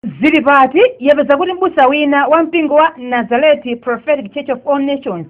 Zili pati tapeza kuti mbusa wina wa mpingo wa Nazareti Prophetic Church of All Nations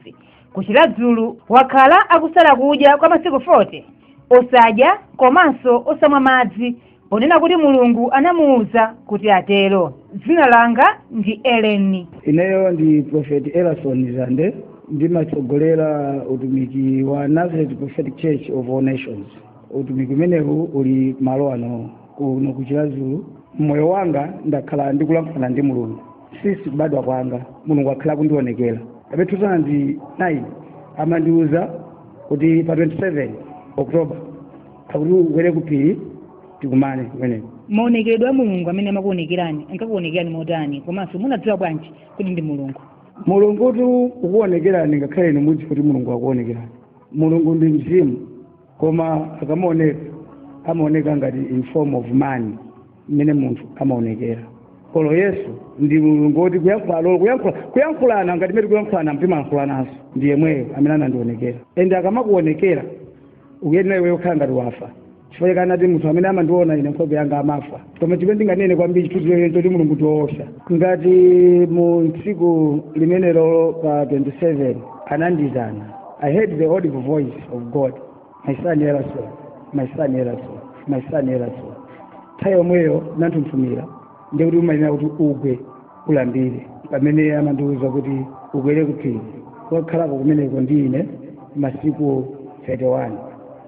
ku Chiradzulu wakhala akusala kudya kwa masiku 40 osadya komanso osamwa madzi ponena kuti Mulungu anamuwuza kuti atero. Dzina langa ndi Eleni. ineyo ndi prophet elason zande ndimatsogolera utumiki wa nazareth prophetic church of all nations utumiki umenewu uli malo ano kuno ku chiradzulu mmoyo wanga ndakhala ndikulankhulana ndi mulungu sisi kubadwa kwanga mulungu akhala akundionekera abe 2009 amandiuza kuti pa 27 oktoba akuti ukwere ku phiri tikumane kumeneko maonekedwe a mulungu amene amakuonekerani ankakuonekerani motani komanso munadziwa bwanji kuti ndi mulungu mulungu kuti akuonekereni ngakhale inu mudziwe kuti mulungu akuonekerani mulungu ndi mzimu koma akamaoneka amaoneka ngati in form of man mmene munthu amaonekera kuli yesu ndi mulungu woti kuyankhula lolo kuyankhula kuyankhulana ngati mmene kuyankhulana mtimayankhulananso ndi yemweyo amene anandionekera ende akamakuonekera ukuyenera iweyo kukhala ngati wafa chifukwa chake anati munthu amene amandiona ine nkhope yanga amafa koma chimene ndinganene kwambiri chithunzireni choti mulungu ndi woopsa ngati mu tsiku limenelo pa 27 anandiitana i heard the audible voice of god my son elason my son elason my son elason nthawi yomweyo ndinanthunthumira ndiye kuti umayenera kuti ugwe ulambire pamene amandiwuza kuti ukwere ku phiri ukakhaleko kumeneko ndi ine masiku 31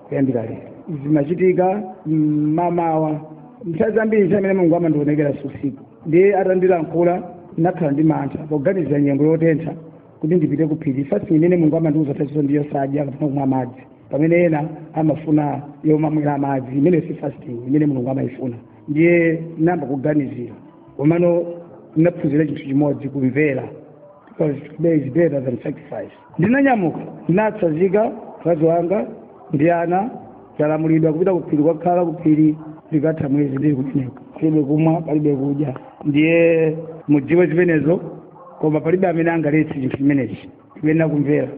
kuyambira lero zimachitika mmamawa nthawi zambiri nthawi imene mulungu amandionekera si usiku ndiye atandilankhula ndinakhala ndi mantha poganizira nyengo yotentha kuti ndipite ku phiri fasting imene mulungu amandiwuza thazizo ndi yosadya kapena kumwa madzi pamene ena amafuna yomamwera madzi imeneyo si fasting imene mulungu amayifuna ndiye ndinayamba kuganizira komano ndinaphunzira chinthu chimodzi kumvera because to obey is better than sacrifice ndinanyamuka ndinatsazika mkazi wanga ndi ana ndalamulidwa kupita kuphiri kukakhala kuphiri ndikatha mwezi ndili kumeneko palibe kumwa palibe kudya ndiye mudziwe zimenezo koma palibe amene angaletse chinthu chimenechi kuyenera kumvera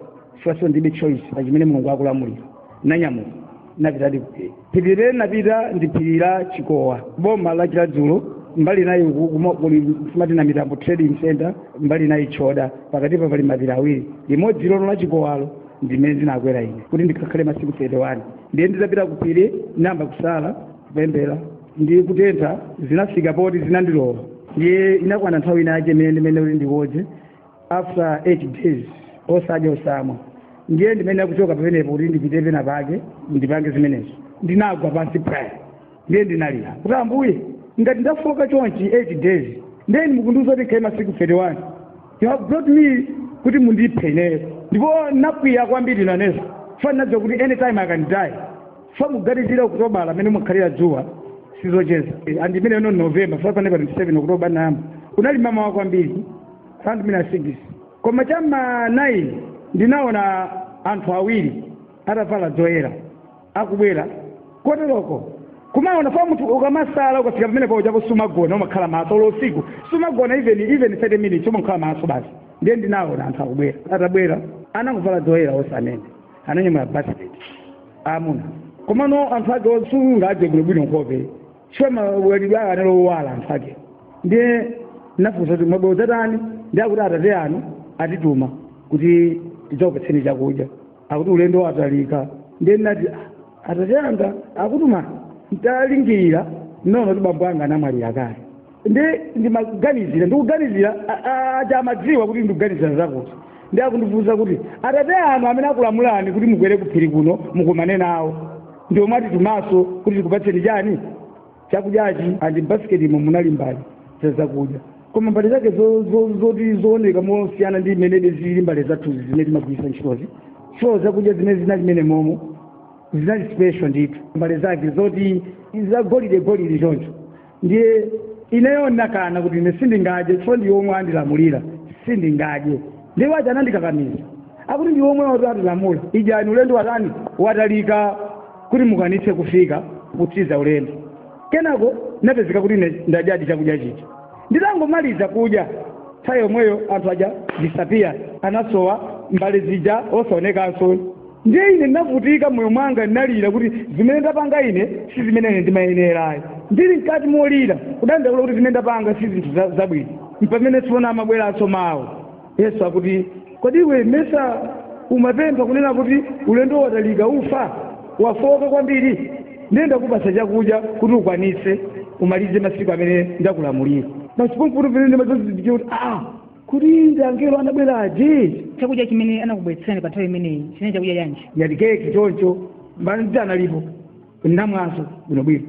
chifukwa ndilibe choice pa chimene mulungu akulamulira ndinanyamuka ndinapitadi kuphiri phiri limene ndinapita ndi phiri la chikowa boma la chiradzulu mbali inayi uku kumo- kuli simati na mitambo trading center mbali inayi choda pakatipa pali mapiri awiri limodzi lolo la chikowalo ndimene ndinakwera ine kuti ndikakhale masiku 31 ndiye nditapita kuphiri ndinayamba kusala kupemphera ndi kutentha zinafika poti zinandilowa ndiye inakwana nthawi inayake imene ndimene kuti ndikodze after 8 days osadya osamwa ndiye ndimene akuchoka pamenepo kuti ndipite pena pake ndipange zimenezo ndinagwa pansi prayer ndiye ndinalira kuti ambuye ngati ndafoka chonchi 8 days ndiye mukundiuza kuti ndikhale masiku 31 you have brought me kuti mundiphe ineyo ndipo nakwiya kwambiri nanenso chifukwa nadziwa kuti anytime I can die fa muganizira okutobala amene mukhalira dzuwa sizocheza andimene ino novemba fa pa 27 okutobala nayamba kunali mama wa kwambiri 5 minus 6 koma cha ma 9 ndinaona anthu awiri atavala zoyera akubwera koteroko kumaona pa munthu ukamasala ukafika pamene paujapo sumagona umakhala maso ulo usiku sumagona even even 30 minutes umakhala maso basi ndiye ndinaona anthu akubwera atabwera anangovala zoyera onse amene ananyamula basket amuna komano anthu ake osaoneka bwinobwino nkhope chifukwa mawalidwe awo anali owala anthu ake ndiye nafunsa kuti mwabwera kudzatani ndi akuti atate anu atituma kuti tidzakupatseni chakudya akuti ulendo watalika ndiye nati "Ah, atate anga akutuma ntalingalira nono kuti bambo anga anamwalira kale ndi ndimaganizira ndikuganizira a- a- aja amadziwa kuti ndikuganizira zakuti ndi akundifunsa kuti atate anu amene akulamulani kuti mukwere kuphiri kuno mukumane nawo ndi omwe atitumaso kuti tikupatseni chani chakudyachi and basketimo munali mbali za zakudya koma mbali zake zo- zo- zoti zooneka mosiyana ndi mmene zili mbali zathuzi zimene timagwiritsa ntchitozi so zakudya zimene zinali mene momo zinali special ndithu mbali zake zoti za golide golide choncho ndiye ineyo ndinakana kuti ine sindingadye chifukwa ndi omwe andilamulira sindingadye ndiye waja anandikakamiza akuti ndi omwe atilamula idyani ulendo watani watalika kuti mukwanitse kufika kutsiza ulendo kenako napezeka kuti ine ndadyadi chakudya chija nditangomaliza kudya nthawi yomweyo anthu aja disappear anasowa mbale zija osaonekanso ndiye ine ndinavutika mmoyo mwanga ndinalira kuti zimene ndapanga ine si zimene ine ndimayenerayi ndili mkati molira kudandaula kuti zimene ndapanga si zinthu za- zabwino mpamene tsopano amabweranso mawu yesu akuti kodi iwe mesa umapempha kunena kuti ulendo watalika ufa wafoka kwambiri ndiye ndakupasa chakudya kuti ukwanitse umalize masiku amene ndakulamulira masiku mpamene ndimadzazindikira kuti aa kuti ndi angelo anabwera aja chakudya chimene anakubweretserani pa nthawi imeneyi chinali chakudya chanji ngati keke choncho mbale ndi analipo ndamwanso bwinobwino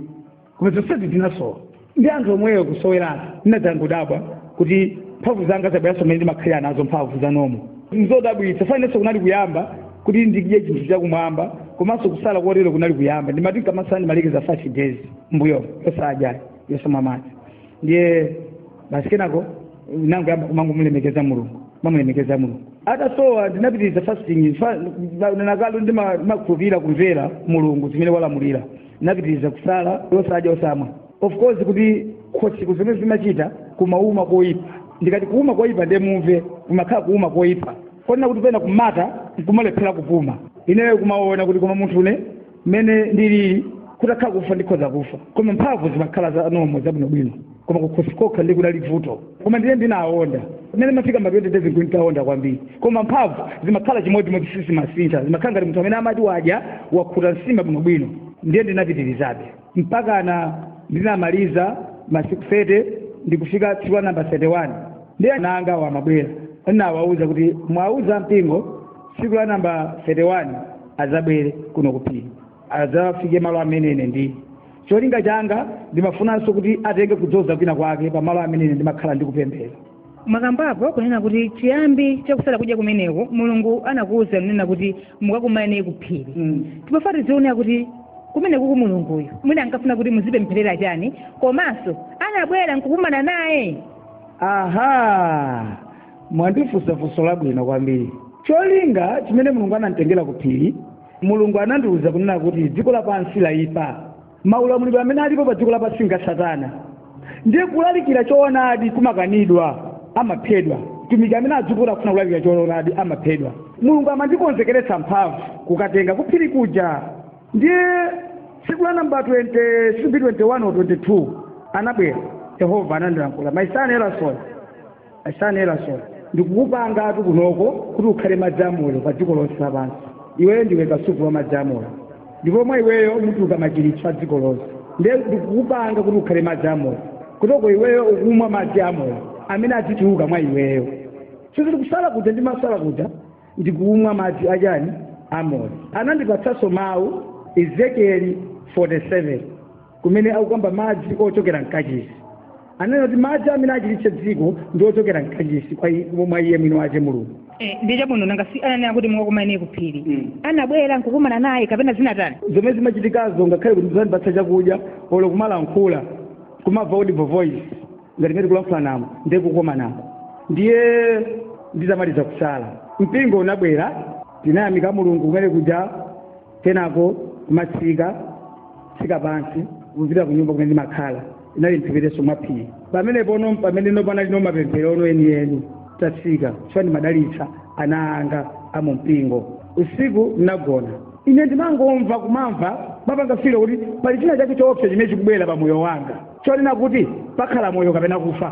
koma zonsezi zinasowa ndi anthu omweyo kusowerana ndinadzangodabwa kuti mphamvu zanga zabweranso mmene ndimakhalira nazo mphamvu zanga nzodabwitsa chifukwa inenso kunali kuyamba kuti ndidye chinthu chakumwamba komanso kusala kotero kunali kuyamba ndimati nkamasala ndimalekeza five days mbuyomo yosadya yosamwa madzi ndiye basi kenako nangoyamba kumangomulemekeza mulungu mamulemekeza mulungu atasowa ndinapitiriza fasting fa- na- nanakalo ndima- ndimakhulupirira kumvera mulungu zimene walamulira ndinapitiriza kusala osadya osamwa of course kuti kukhosiku zomwe zimachita kumauma koyipa ndikati kuuma koyipa ndiye mumve kumakhala kuuma koyipa kotero kuti pena kumatha nkumalephera kupuma ineyo kumaona kuti koma munthune mmene ndilili kutakhala kufa ndikhoza kufa koma mphamvu zimakhala za nomo zabwinobwino koma kukhosi kokha ndi kunali vuto koma ndiye ndinaonda mmene ndimafika ma 20 days nditaonda kwambiri koma mphamvu zimakhala chimodzimodzi sizimasintha zimakhala ngati munthu amene amati wadya wakhuta nsima bwinobwino ndiye ndinapitirizabe mpaka na ndinamaliza masiku 30 ndikufika tsiku la namba 31 ndiye ana angawa amabwera ndinawauza kuti muwauze ampingo tsiku la namba 31 adzabwere kuno kuphiri adzafike malo amene ine ndili cholinga changa ndimafunanso kuti atenge kudzoza kwina kwake pa malo amene ine ndimakhala ndikupemphera mwakambapo kunena kuti chiyambi chakusala kudya kumeneko mulungu anakuwuza kunena kuti mukakumane kuphiri mm. timafuna tizione kuti kumeneku ku mulunguyu mwina ankafuna kuti muzipempherera chani komanso anabwera nkukumana naye aha mwandifunsa funso labwino kwambiri cholinga chimene mulungu ananditengera kuphiri mulungu anandiwuza kunena kuti dziko lapansi layipa maulamuliro amene alipo pa dziko lapansi nga satana ndiye kulalikira choonadi kumakanidwa amaphedwa mtumiki amene adzuka akufuna kulalikira choonadi amaphedwa mulungu amandikonzekeretsa mphamvu kukatenga kuphiri kuja ndiye tsiku la namba 20 sipi 21 or 22 anabwera yehova anandilankhula my son Elason Son Elason, Ndikukupangatu kunoko kuti ukhale madzi amoyo pa dziko lonse lapansi. Iweyo ndiwe kasupe wa madzi amoyo, ndipo mwa iweyo mutuluka machiritso a dziko lonse. Ndiye ndikukupanga kuti ukhale madzi amoyo, uko uko iweyo ukumwa madzi amoyo amene adzituluka mwa iweyo. Sikuti kusala kuja ndimasala kuja, ndikumwa madzi a chani? Amoyo. Anandipatsanso mau, Ezekieli 47. kumene akukamba madzi ochokera mkachisi anena kuti madzi amene achiritse dziko ndi ochokera mkachisi kwa i- mwa iye mwini wace mulungu Eh, ndi chabwino nanga si ananena kuti mukakumane kuphiri Mm. anabwera nkukumana naye kapena zinatani zomwe zimachitikazo ngakhale kuti zandipatsa chakudya olo kumalankhula kumamva audible voice ngati ngati kulankhulana mo ndiye kukomanako ndiye nditamaliza kusala mpingo unabwera tinayamika mulungu kumene kuja kenako kumatsika tsika pansi kupita ku nyumba kumene ndimakhala inali mphepeteso mwa phiri pamene pono pamene no panali no mapemphero ono enieni tatsika chifukwa ndimadalitsa ana anga a mu mpingo usiku ndinagona ine ndimangomva kumamva mapanga feel kuti pali china chake choopsa chimene chikubwera pa moyo wanga chonena kuti pakhala moyo kapena kufa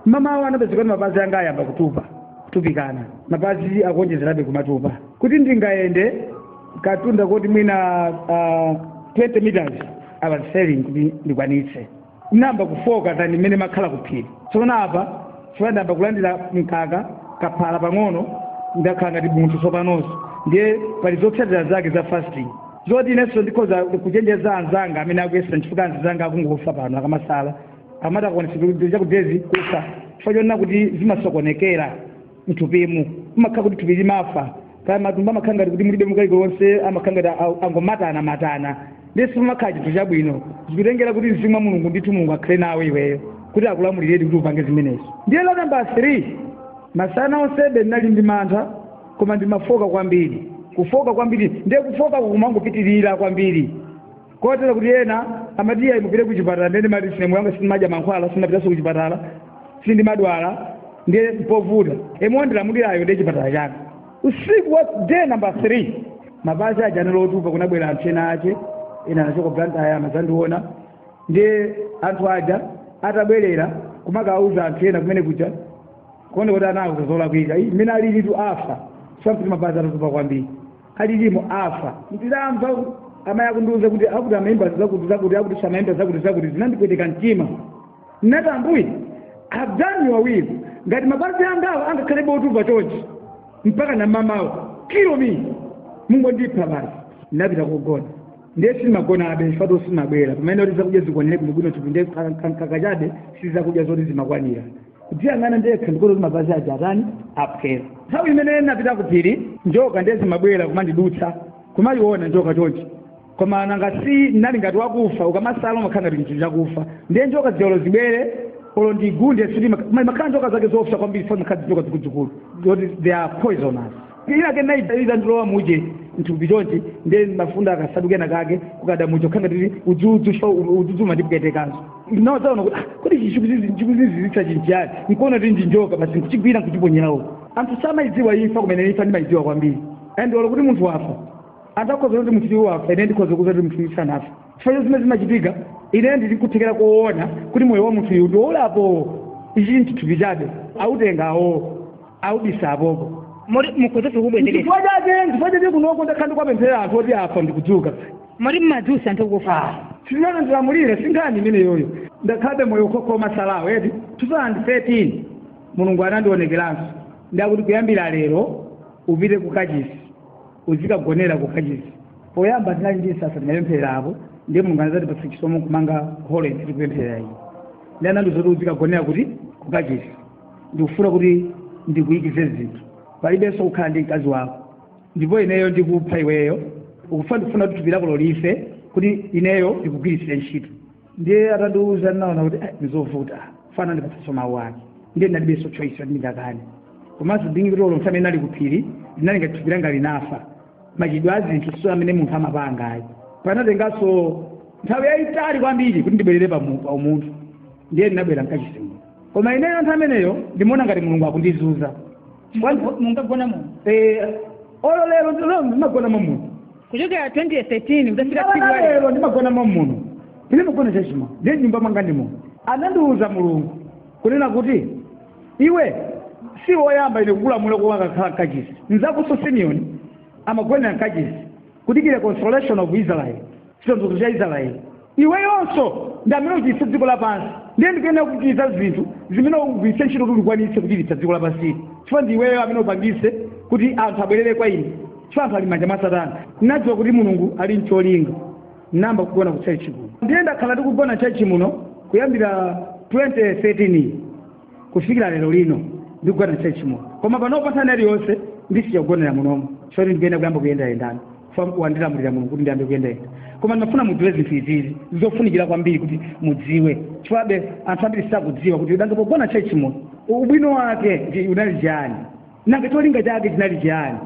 mamawa anapezeka kuti mapazi anga ayamba kutupa kutupikana mapazi akuonjezerabe kumatupa kuti ndingayende kamtunda koti mwina uh, 20 meters I was failing kuti ndikwanitse nayamba kufoka than mmene makhala kuphiri tsopano apa chifukwa ndayamba kulandira mkaka kaphala pang'ono ndakhala ngati munthu tsopanonso ndiye pali zotsatira zake za fasting zoti inenso ndikhoza kuchenjeza anzanga amene akuyesa nchifukwa anzanga akungofa pano akamasala amati akwanitsa chakudezi kufa chifukwa chonena kuti zimasokonekera mthupimu kumakhala kuti thupi limafa kaya matumbo amakhala ngati kuti mulibe kalikonse amakhala ngati a- angomatana matana ndiye sipamakhala chinthu chabwino zikutengera kuti mzimu wa mulungu ndithu mulungu akhale nawe iweyo kuti akulamuliredi kuti upange zimenezo ndiye la namba 3 masana onsebe ndinali ndi mantha koma ndimafoka kwambiri kufoka kwambiri ndiye kufoka kumangopitirira kwambiri kotero kuti ena amati iyayi mupite ku chipatala ndiye ndimati ine moyo wanga sindimadya mankhwala sindimapitanso ku chipatala sindimadwala ndiye mpovuta yemwe wandilamulirayo ndiye chipatala changa usiku wa day number 3 mapazi aja anali otupa kunabwera anthu ena ache ena anachoka Blantyre amadzandiona ndiye anthu aja atabwerera kumakawuza anthu ena kumene kuja kuoneka kuti anawuza zolakwika mmene alilitu afa zakuti mapazi atatupa kwambiri alilimo afa ndidamva amayi akundiuza kuti akuti amaimba zakuti zakuti akuti samaimba zakuti zakuti zinandipweteka mtima ndinati ambuye I've done your will ngati mapazi angawa angakhalebe otupa chonchi mpakana mamawa kill me mungondipha basi ndinapita kugona ndiye simagonabe fato simabwera pamene kuti zakudya zikwanire bwinobwino chifukwa ndi mkaka chabe sizakudya zoti zimakwanira kudziyang'ana ndekha ndikuona kuti mapazi aja atani aphwera nthawi imene napita ku phiri njoka ndiye zimabwera kumandidutsa kumayiona njoka chonchi koma nanga si nali ngati wakufa ukamasala umakhala ngati chinthu chakufa ndiye njokazi olo zibwere olo zindigunde zimakhala njoka zake zoopsa kwambiri fo makhala njoka zikuluzikulu zoti they are poisonous phiri lake inadzandilowa muja mthupi chonchi ndiye mafunda kansalu kena kake kukada mucho khanga tili udzudzu sho udzudzu umandipwetekanso nawo ndinadzaona kuti ah, kuti chichikuzizi chikuziziritsachi nchiyani nkuona kuti ndinjoka basi nkuchigwira nkuchiponyera uko anthu samayidziwa imfa koma ine imfa ndimayidziwa kwambiri and olo kuti munthu wafa anthu akhoza kuti munthu uyu wafa ine ndikhoza kuuza kuti munthu uyu sanafe chifukwa zimene zimachitika ine ndili ndi kuthekera koona kuti moyo wa munthu uyu ndiwolapo ichi nthupi chabe autenga awo aubisa apopo moti mukhoza fikubwezekesa chifukwa chake chifukwa chake kunoko ndakhala ndikuwapemphera anthu oti afa ndikudzuka moti mmadzutsa anthu kufa sinana ndilamulire sinkhani imeneyoyo ndakhalabe moyo okhaokha omasalawo eti 2013 mulungu anandionekeranso ndakuti kuyambira lero upite ku kachisi uzikagonera ku kachisi poyamba tinali ndi msasa tinapemphera apo ndiye mulungu anazatipatsa chisomo kumanga holo tikupemphera iyi ndiye anandiuza zoti uzikagonera kuti ku kachisi ndikufuna kuti ndikuyikizire zinthu palibenso kukhala ndi mkazi wako ndipo ineyo ndikupha iweyo ukufuna ndikufuna kuti thupi lako lolife kuti ineyo ndikugwiritsire ntchito ndiye atandiuza ndinaona kuti eh, ndizovuta chifukwa anandipatsanso mawu ake ndiye ndinalibenso choice kuti ndingakane komanso ndinene kuti olo mmene ndinali kuphiri ndinali ngati thupi langa linafa machitidwe a zinthu si amene munthu amapanga ayi panatenganso nthawi yayitali kwambiri kuti ndibwerere pa mu- pa umunthu ndiye ndinabwera mkachisimu koma ineyo nthawi imeneyo ndimaona ngati mulungu akundizunza Munga- mungagona muno Eh, olo lero lero ndimagona momuno kuchokera 2013 kudafika tsiku la lero lero ndimagona momuno ine magona chachima ndiye nyumba mwanga ndi muno anandiwuza mulungu kunena kuti iwe si woyamba ine kukulamula kuti ukakhale mkachisi mzakonso simeoni amagonera mkachisi kudikira consolation of israel chitonthozo cha israel iweyonso ndi amene uchiritse dziko lapansi ndiye ndikuyenera kukuchititsa zinthu zimene ugwiritse ntchito kuti ukwanitse kuchiritsa dziko lapansili chifukwa ndi iweyo amene upangise kuti anthu abwerere kwa ine chifukwa anthu ali m'manja mwa satana ndinadziwa kuti mulungu ali ncholinga nayamba kugona ku church muno ndiye ndakhala ndikugona church muno kuyambira 2013 kufikira lero lino ndikugona church muno koma panopa nthawi iliyonse ndisiya kugonera munomo chifukwa ndikuyenera kuyamba kuyendayendana wandilamulira mulungu kuti ndiyambe kuyendayenda koma ndimafuna mudziwe zinthu izizi zofunikira kwambiri kuti mudziwe chifukwabe anthu ambiri sakudziwa kuti nanga pogona church muno ubwino wake unali chiyani nanga cholinga chake chinali chiyani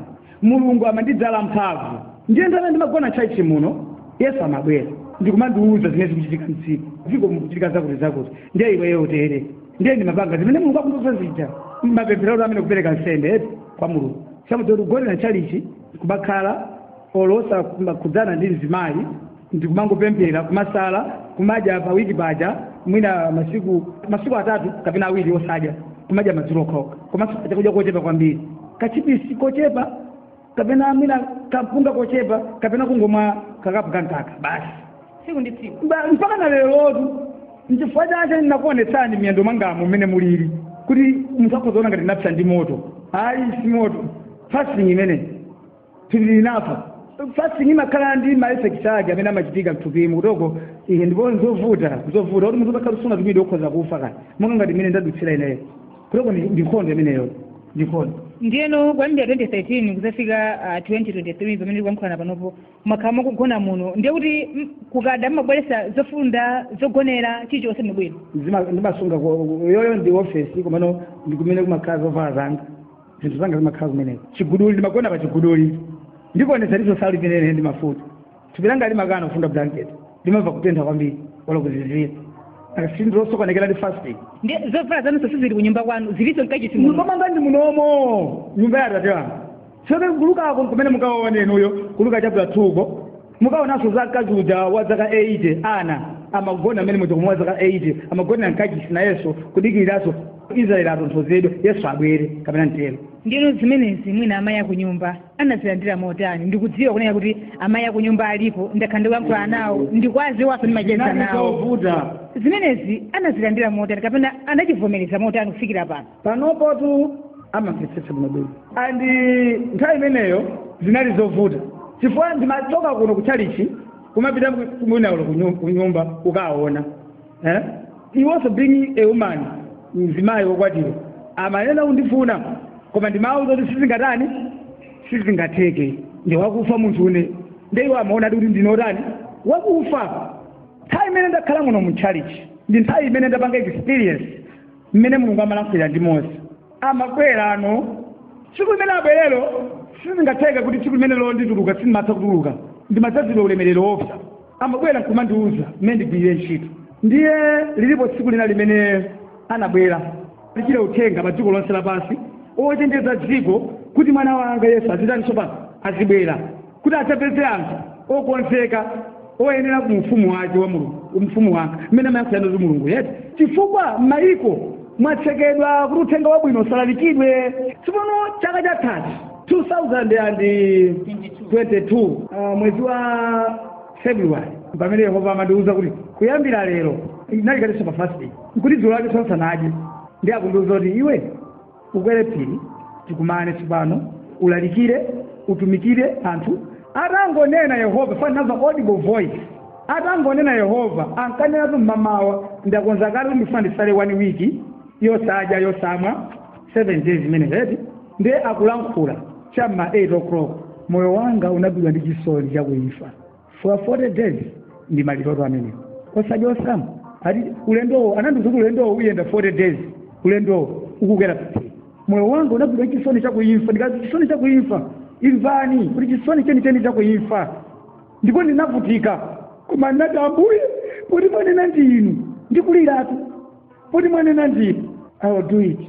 mulungu amandidzaza mphamvu ndiye nthawi ndimagona ntchalichi muno yesu amabwera ndikumandiuza zimene zikuchitika mdziko dziko mukuchitika zakuti zakuti ndiye iweyo utere ndiye ndimapanga zimene mulungu akundiuza zija mapemphero amene kupereka nsembe eti kwa mulungu samuti kugonera ntchalichi kumakhala olo osakhudzana ndi mzimayi ndikumangopemphera kumasala kumadya pa wiki paja mwina masiku masiku atatu kapena awiri osadya kumadya madzulo okhaokha komanso chakudya kochepa kwambiri kachipisi kochepa kapena mwina kampunga kochepa kapena kungomwa kakapu ka mkaka basi tsiku ndi tsiku Ba- mpaka na lerotu nchifukwa chake ndinakuonetsani miyendo mwangamu mmene mulili kuti munthu akhozaona ngati ndinapsa ndi moto ayi si moto fasting imene tili pa fasting imakhala ndi maeffects ake amene amachitika mthupimu kuchoka iye ndipo nzovuta zovuta kuti munthu utakhala usunatumidwe ukhoza kufa kani monga ngati imene ndadutsira ineyo kuchoka ndi ndi nkhondo imeneyo ndi nkhondo ndiyeno kuyambira 2013 kuzafika ah, 2023 pamene tikuyankhulana panopo mwakhala mukugona muno ndiye kuti mm, kukada mumabweretsa zofunda zogonera chilichonse bwino Zima- ndimasunga ko- yoyo ndi ofesi komano ndikumene kumakhala zovala zanga zinthu zanga zimakhala kumeneko chiguduli ndimagona pa chiguduli ndikuonetsani so sindimenene ndi mafuta thupi langa limakana kufunda blanket ndimamva kutentha kwambiri olo kuzizira thupili ndi losokonekera ndi fasting ndi zovala zanunso sizili ku nyumba kwanu zilinso mkachisi muno mukwanga ndi munomo nyumba ya atate wanga soke kulukako kumene mukaone inuyo kuluka chapula thuko mukaonanso za mkazi uja wa zaka 80 Anna amagona mmene mujamu wa zaka 80 amagona mkachisi nayenso kudikiriranso israeli atonthozedwe yesu abwere kapena mtero ndiyeno zimenezi mwina amayi akunyumba anazilandira motani ndikudziwa kunena kuti amayi akunyumba alipo ndakhala ndikuyankhula nawo ndikuwadziwanso ndimacheza nawo zovuta zimenezi anazilandira motani kapena anachivomereza motani kufikira pano panopotu amamvetsetsa bwinobwino and nthawi imeneyo zinali zovuta chifukwa ndimachoka kuno kuchalichi kumapita mwina olo kunyumba ukaona eh? iwonso being a woman mzimayi wokwatiwa amayenera kundifuna koma ndimawuza kuti sizingatani sizingatheke ndine wakufa munthu ine nde iwo amaona kuti ndine otani wakufa nthawi imene ndakhala muno mu chalichi ndi nthawi imene ndapanga experience mmene mulungu amalankhulira ndi mose amabwera muno tsiku limene abwerelo sizingatheke kuti tsiku limenelo ndituluka sindimatha kutuluka ndimadzazidwa ulemerero woopsa amabwera nkumandiuza mmene ndigwirire ntchito ndiye lilipo tsiku lina limene anabwera ulalikire uthenga pa dziko lonse lapansi ochenjeza dziko kuti mwana wanga yesu azitani tsopano azibwera kuti adzapeze anthu okonzeka oyenera mu ufumu wake wa mulungu mu ufumu wake mmene amayankhulira ndi mulungu eti chifukwa m'mayiko mwatsekedwa kuti uthenga wabwino usalalikidwe tsopano chaka chathachi 2022 uh, mwezi wa february pamene yehova amandiwuza kuti kuyambira lero ndinali katinso pa fasting nkuti dzulo lake ndisanadye ndi akundiwuza kuti iwe ukwere phiri tikumane tsopano ulalikire utumikire anthu atangonena yehova pa ndinamva audible voice atangonena yehova ankanenatu mmamawa ndakonza kale ndifuna ndisale one week yosadya yosamwa seven days imeneyo eti ndiye akulankhula chamma 8 o'clock moyo wanga unagwidwa ndi chisoni cha kuimfa for 40 days ndi maliroto amenewo osadya osamwa ati ulendowo anandiuza kuti ulendowo uyenda 40 days ulendowo ukukwera paphiri moyo wanga unagwidwa ndi chisoni chakuimfa ndikazi chisoni chakuimfa imvani kuti chisoni chenicheni chakuimfa ndipo ndinavutika koma ndinati ambuye poti mwanena ndi inu ndikuliratu poti mwanena ndi inu i will do it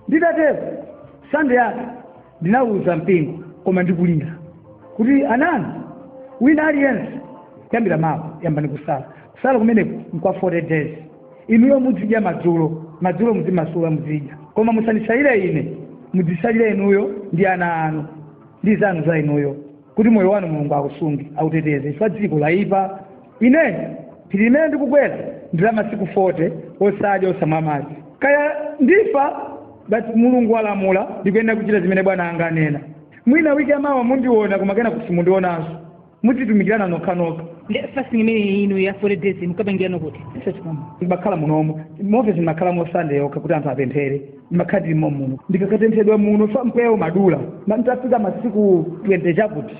nditatero sande yake ndinawuza mpingo koma ndikulira kuti amayi wina aliyense kuyambira mawa yambani kusala kusala kumeneku nkwa 40 days inuyo muzidya madzulo madzulo muzimasula muzidya koma musandisalire ine mudzisalire inuyo ndi ana anu ndi zanu za inuyo kuti moyo wanu mulungu akusunge auteteze chifukwa dziko layipa ine phiri limene ndikukwera ndi la masiku 40 osadya osamwa madzi kaya ndifa but mulungu walamula ndikuyenera kuchita zimene bwana anga anena mwina wiki yamawa mundiona koma kena kusimundionanso mudzitumikirana nokhanokha Nde fasting imene inu ya 40 days mukapangirano kuti ndibakhala munomo mofesi ndimakhala mosande yokha kuti anthu apemphere makhala ndili momuno ndikakatenthedwa muno mpweya umadula Ma- nditafika masiku 20 chakuti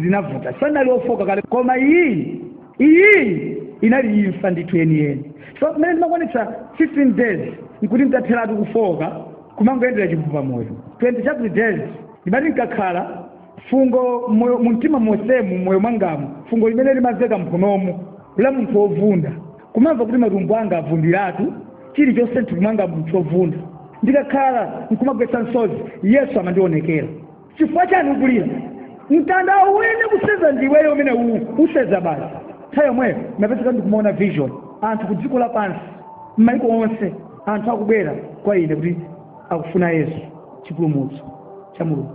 zinavuta sanali ofoka kale koma iyi iyi inali imfa ndithu yeniyeni so mmene ndimakwanitsa 15 days nkuti nditatheratu kufoka kumangoyendera chivuva moyo 20 chakuti days ndimati nkakhala fungo moyo mumtima monsemu moyo mwangamu fungo limene limamveka mphunomu la munthu wovunda kumamva kuti matumbo anga avundiratu chilichonse mthupi mwanga mchovunda ndikakhala nkumagwetsa msozi yesu amandionekera chifukwa chani ukulira mtandawo uyenera kuseza ndiweyo umene uwu useza basi nthawi yomweyo ndimapezeka ndikumaona vision anthu ku dziko lapansi m'maiko onse anthu akubwera kwa ine kuti akufuna yesu chipulumutso cha mulungu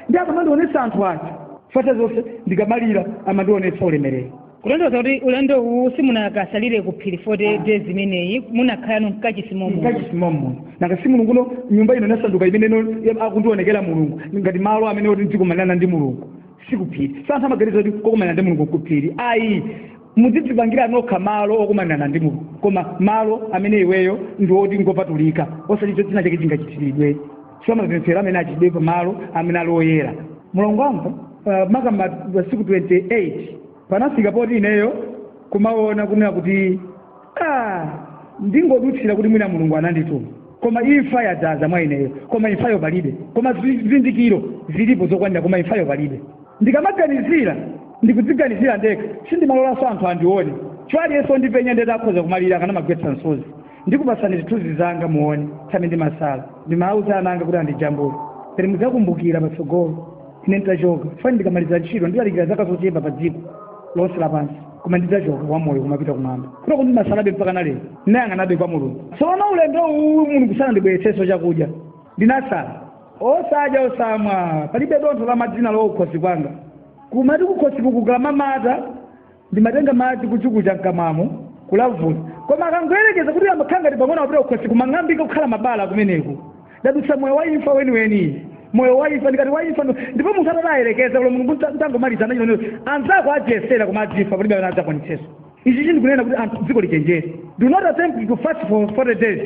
ndi akamandionetsa anthu achifuko atazonse ndikamalira amandionetsa ulemerero kulondoza kuti ulendo uwu simunakasalire ku phiri 40 days imeneyi munakhalano mkachisi momo mkachisi momo nanga si mulungu no nyumba ino inasanduka imene no ya- akundionekera mulungu ngati malo amene oti ndizikumanirana ndi mulungu sikuphiri anthu amaganiza kuti kokumanira ndi mulungu nkuphiri ayi mudzidzipangira nokha malo okumanirana ndi mulungu koma malo amene iweyo ndi oti ngopatulika osati china chake chingachitiridwe so mapemphero amene achitidwe pamalo amene ali oyera mulungu wamva uh, makamaka masiku 28 panafika poti ineyo kumaona kunena kuti ah, ndingodutsira kuti mwina mulungu anandituma koma imfa yadzaza mwa ineyo koma imfayo palibe koma zi- zizindikiro zilipo zokwanira koma imfayo palibe ndikamaganizira ndikudziganizira ndekha sindimalolanso anthu andione chifukwa aliyense ondipenya ndeti akhoza kumalira akanamagwetsa msozi ndikupatsani zithunzi zanga muone tsamene ndimasala ndimauza ana anga kuti andijambule pene mudzakumbukira patsogolo ine nditachoka fani ndikamaliza ntchito ndilalikira zaka zochepa pa dziko lonse lapansi koma ndidzachoka wamoyo kumapita kumwamba kutoku ndimasalabe mpaka na lero ndinayang'anabe kwa mulungu tsono ulendo uwu mulungu sanandibweretsenso chakudya ndinasala osadya osamwa palibe dontho la madzi nalowa kukhosi kwanga kumati kukhosi kukukakamata ndimatenga madzi kuchukucha mkamwamo kulavula koma akangoyerekeza kuti amakhala ngati pang'ono apita kukhosi kumang'ambika kukhala mabala kumeneko ndadutsa moyo wa imfa weniweni moyo wa imfa ndikati wa imfa ndo- ndipo munthu atati ayerekeze kulo mulungu nta- ntangomaliza nchi no anzako adzayesera koma adzafa palibe amene adzakwanitseso ichi chindikunena kuti anthu dziko lichenjere do not attempt to fast for 40 days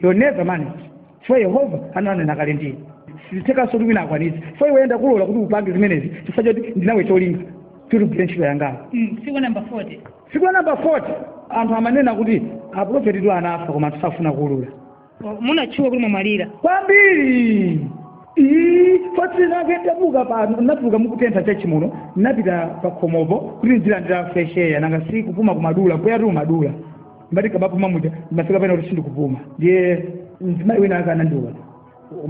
you'll never manage chifukwa yehova ananena kale ndine sizithekanso kuti wina akwanitse chifukwa iwe nda kulola kuti upange zimenezi chifukwa choti ndinawe cholinga kuti ugwire ntchito yangayo Mm, siku la namba 40 siku la namba 40 anthu amanena kuti aprofeti tu anafa koma anthu safuna kuulula O, munatchuka kuti mwamwalira kwambiri iyi fosi nditatuluka pano natuluka mukutentha chachimuno napita pakhomopo kuti ndilandire fresh air nanga si kupuma kumadula mpweyatu umadula ngati ndikamapuma muja ndimafika pena kuti sindikupuma ndiye mzimayi wina ake anandiona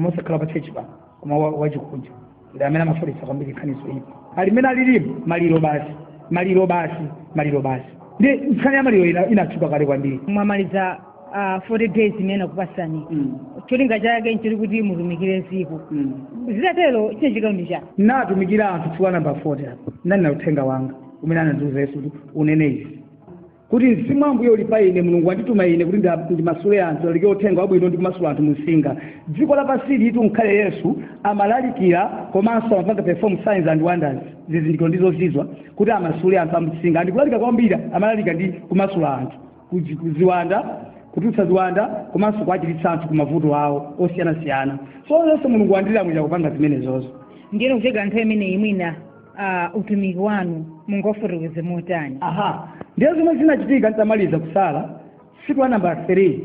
osakhala pa chechi pa koma wa- wachikunja ndi amene anafalitsa kwambiri nkhani zoyipa ali mmene alilimu maliro basi maliro basi maliro basi ndiye nkhani ya maliro ina- inatchuka kale kwambiri mwamaliza uh, 40 days imene akupasani cholinga chake nchiti kuti mutumikire dziko zitatero chine chikaundi chake natumikira anthu tsiku la namba 40 apo nani na uthenga wanga umene anandiuza yesu kuti unene izi kuti mzimu wa ambuye uli pa ine mulungu wandituma ine kuti nda- ndimasule anthu nlalike uthenga wabwino ndi kumasula anthu munsinga dziko lapansi alitu mkale yesu amalalikira komanso amapanga perform signs and wonders zizindikiro ndi zozizwa kuti amasule anthu amunsinga ndi kulalika kwambiri amalalika ndi kumasula anthu kuzi- kuziwanda kutulutsa ziwanda komanso kuwachiritsa anthu ku mavuto awo osiyanasiyana so zonse mulungu wandilamulira kupanga zimenezozo ndiyeno kufika nthawi imeneyi mwina ah, utumiki wanu mungaufotokoze motani aha ndiye zomwe zinachitika nditamaliza kusala siku la namba 3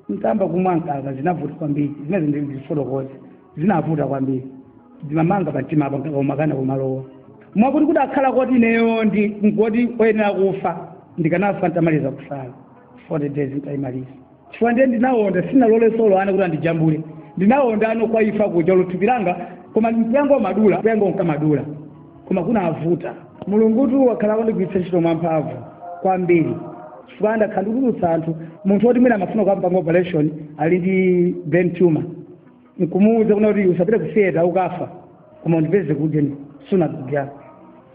nditayamba kumwa mkaka zinavuta kwambiri zimene ndizifotokoze zinavuta kwambiri zimamanga pa mtima apa mkaka umakana kumalowa mwakuti kukanakhala koti ineyo ndikadi oyenera kufa ndikanafa nditamaliza kusala 40 days nditayimaliza chifukwa ndiye ndinawonda sinalole solo ana kuti andijambule ndinawonda ano kwa ifa kudya lo thupi langa koma mpweyangu umadula mpweyangu unkamadula koma kunavuta mulungutu wakhala akundigwiritsa ntchito mwamphamvu kwambiri chifukwa ndakhala ndikutulutsa anthu munthu woti mwina amafuna kukampanga operation ali ndi brain tumor nkumuwuza kuna kuti usapite ku theater ukafa koma undipeze kudya ni sunagoge yako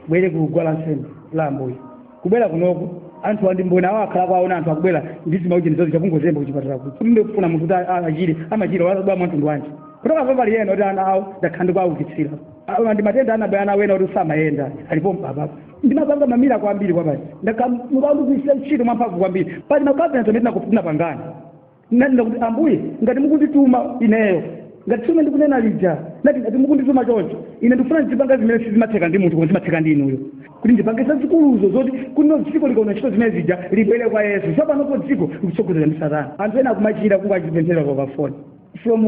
ubwere ku guwa la nsembe la ambuye kubwera kunoko anthu ndi mboni awo akhala akuwona anthu akubwera ndizima ucheni zozi achita kungozemba kuchipatala kuti ndikufuna munthu kuti a- achire amachira wazabwa mwa mtundu wanji kutoka pa pali ena kuti ana awo ndakhala ndikuwaukitsira awo ndi matenda anabwera ana ena kuti samayenda alipo mpapapo ndimapanga ma miracle ambiri kwabasi ndakamukandu kuisira ntchito mwamphamvu kwambiri pali ma covenant omwe tinapangana nanena kuti ambuye ngati mukundituma ineyo ngati tsiku ndikunena lija nati ngati mukundituma choncho ine ndikufuna ndizipanga zimene sizimatheka ndi munthu koma zimatheka ndi inuyo kuti ndipange zazikuluzo zoti kuno dziko likaona ntchito zimene zija libwere kwa yesu tsopanopo dziko likutsogozedwa ndi satana anthu ena akumachira kungowapempherera pafoni from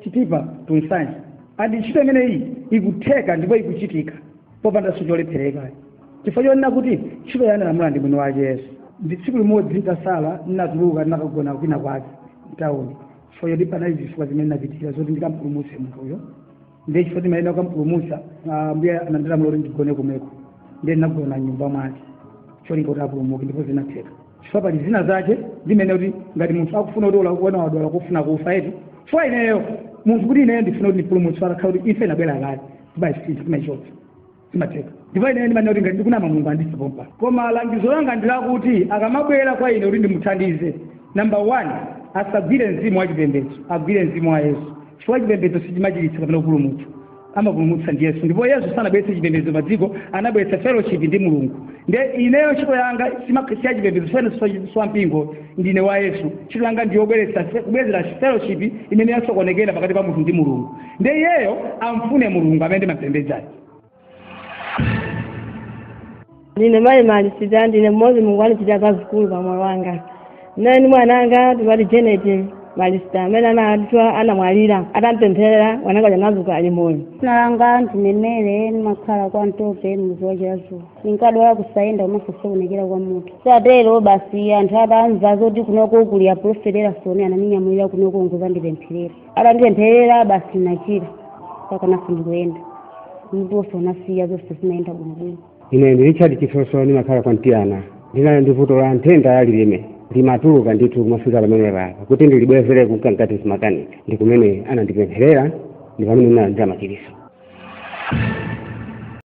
chitipa to nsanje and ntchito imeneyi ikutheka ndipo ikuchitika popandanso cholephereka chifukwa chonena kuti ntchitoyi analamula ndi mwini wake yesu ndi tsiku limodzi ndasala ndinatuluka ndinakagona kwina kwake mtawuni chifukwa choti panali zifukwa zimene ndinapitirira zoti ndikampulumutse munthuyo ndiye chifukwa timayenera kukampulumutsa ambuye anandilamula kuti ndigone komweko ndiye ndinagona m'nyumba mwake cholinga kuti apulumuke ndipo zinatheka chifukwa pali zina zake zimene kuti ngati munthu akufuna kuti olo akuona wadwala kufuna kufa eti chifukwa ineyo munthu kuti ineyo ndifuna kuti ndipulumutse akakhala kuti imfa inabwera kale timaisintha timaichotsa zimatheka ndipo ine ndimanena kuti ngati ndikunama mulungu andise pompa koma langizo langa ndi lakuti akamabwera kwa ine kuti ndimuthandize number one asagwire mzimu wa chipembedzo agwire mzimu wa yesu chifukwa chipembedzo sichimachiritsa kapena kupulumutsa amapulumutsa ndi yesu ndipo yesu sanabweretse chipembedzo pa dziko anabweretsa fellowship ndi mulungu nde ineyo ntchito yanga si ya chipembedzo ine si wa mpingo ndine wa yesu ntchito yanga ndiyobweretsa kubwezera fellowship imene yasokonekera pakati pa munthu ndi mulungu nde iyeyo amfune mulungu amene ndimampembedzayo ndine mayi malisita ndine mmodzi mulungu andichitira zazikulu pa moyo wanga ndinali ndi mwana wanga timati janet malisita amene anadwala anamwalira atampempherera mwananga uja anadzuka ali moyo dzina langa ndine mary ndimakhala kwa mtope mudzi wa chilazuwa ndinkadwala kusayenda komanso kusokonekera kwa mutu zitatero basi anthu atamva zoti kunoko kuli aprofeti erasoni anandinyamulira kunoko nkudzandipempherera atandipempherera basi nachira mpaka naso ndikuyenda mutunso unasiya zonse zinayenda bwinobwino ine ndi richard chisoso ndimakhala kwa mtiyana ndinali ndi vuto la nthenda ya lilime limatuluka ndithu kumafika pamene papa kuti ndilibwezere kunka mkati zimakanika ndi kumene anandipempherera ndi pamene ndinalandira machiritso